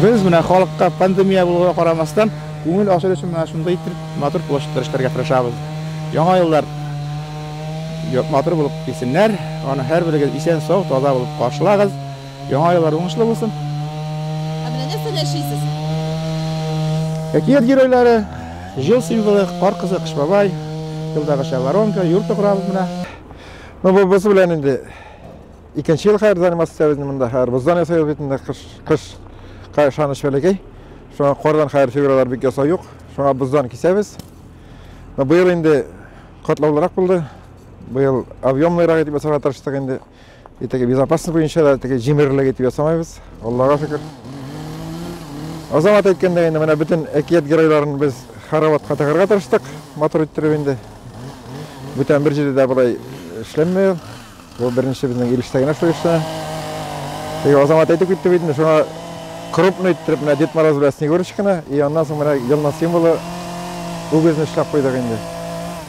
Без менә халыкка пандемия булуга карамастан, күңел ачыр өчен менә шундый итеп матур площадьтар эшләргә тырышабыз. Яңа еллар матур булып килсеннәр, аны һәрберегез исән сау, таза булып каршылагыз. Яңа еллар уңышлы булсын. Ә менә нәрсә яшисез? Әкият геройлары, җил символы, кар кызы, кыш бабай, юлдагыча воронка, юрты корабыз менә. Ну, бу без белән инде Икенче ел хәер заниматься итә безне монда хәер. Боздан ясыйбыз бит инде кыш кыш кайшаны шәлекәй. Шуңа кардан хәер фигуралар бик ясау юк. Шуңа боздан кисәбез. Но быел инде катлаулырак булды. Быел объемныйрак итеп ясарга тырыштык инде. И теге безопасность буенча да теге җимерлек итеп ясамыйбыз. Аллага шөкер. Азамат әйткәндәй инде менә бөтен әкият геройларын без Хараватка тыгырга тырыштык, матур иттереп инде. Бүтән бер җирдә дә болай эшләнмәй. Бу беренче безнең ил эчтә генә шул эшне. Теге Азамат әйтеп китте бит инде, шуңа крупно иттереп менә Дед Мороз белән Снегурочканы, и аннан соң менә елның символы үгезне эшләп куйдык инде.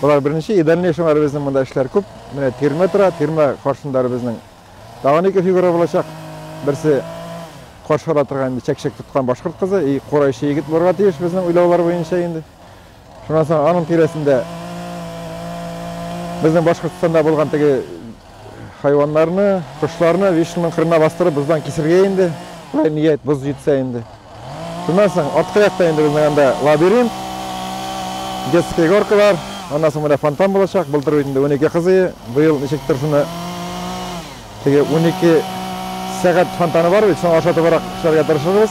Болар беренче, и дальнейшем әле безнең монда эшләр күп. Менә тирмә тора, тирмә каршында әле безнең тагын ике фигура булачак. Берсе каршы ала торган инде чәкчәк тоткан башкорт кызы, и курайчы егет булырга тиеш безнең уйлаулар буенча инде. Шуннан соң аның тирәсендә безнең Башкортстанда булган теге хайваннарны, кошларны вишенның кырына бастырып боздан кисергә инде. Болай ният, боз җитсә инде. Шуннан соң арткы якта инде безнең анда лабиринт, детские горкалар, аннан соң менә фонтан булачак. Былтыр бит инде унике кыз өе, быел ничектер шуны теге унике сәгать фонтаны бар бит, шуңа ошатыбрак эшләргә тырышырбыз.